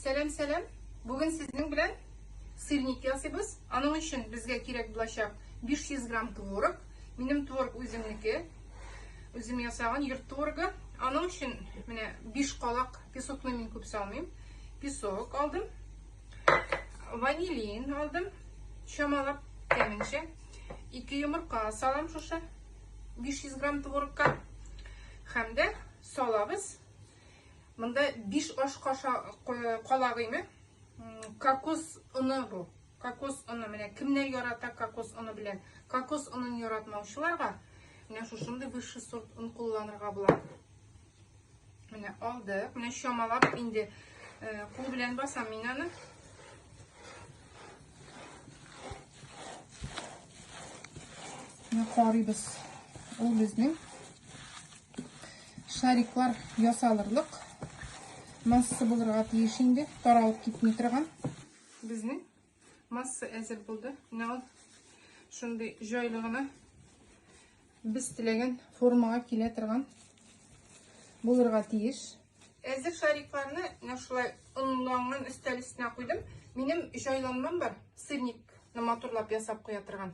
Сәлам, сәлам. Бүген сезнең белән сырник ясыйбыз. Аның өчен безгә кирәк булачак 500 грамм творог. Минем творог үземнеке. Үзем ясаган йорт творогы. Аның өчен менә 5 калак песокны мин күп салмыйм. Песок алдым. Ванилин алдым. Чамалап кәменчә. 2 йомырка салам шушы 500 грамм творогка. Һәм дә салабыз. Монда биш аш калагыйме кокос оны бу. Кокос оны менә кемнәр ярата кокос оны белән. Кокос онын яратмаучыларга менә шушындый высший сорт он кулланырга була. Менә алдык. Менә чамалап инде э, кул белән басам мин аны. Менә карыйбыз. Ул безнең Шариклар ясалырлык масса булырга тиеш инде, таралып китми торган. Безнең масса әзер булды. Менә ул шундый җайлы гына без теләгән формага килә торган булырга тиеш. Әзер шарикларны менә шулай онланган өстәл өстенә куйдым. Минем җайланмам бар, сырникны матурлап ясап куя торган.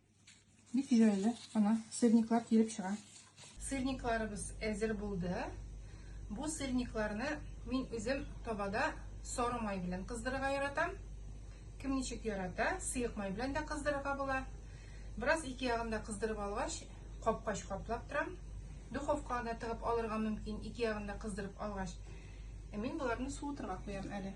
Бик җайлы. Ана сырниклар килеп чыга. Сырникларыбыз әзер булды. Бу сырникларны мин үзем табада сары май белән кыздырырга яратам. Кем ничек ярата, сыек май белән дә кыздырырга була. Бераз ике ягында кыздырып алгач, капкач каплап торам. Духовкага да тыгып алырга мөмкин, ике ягында кыздырып алгач. Ә мин боларны суытырга куям әле.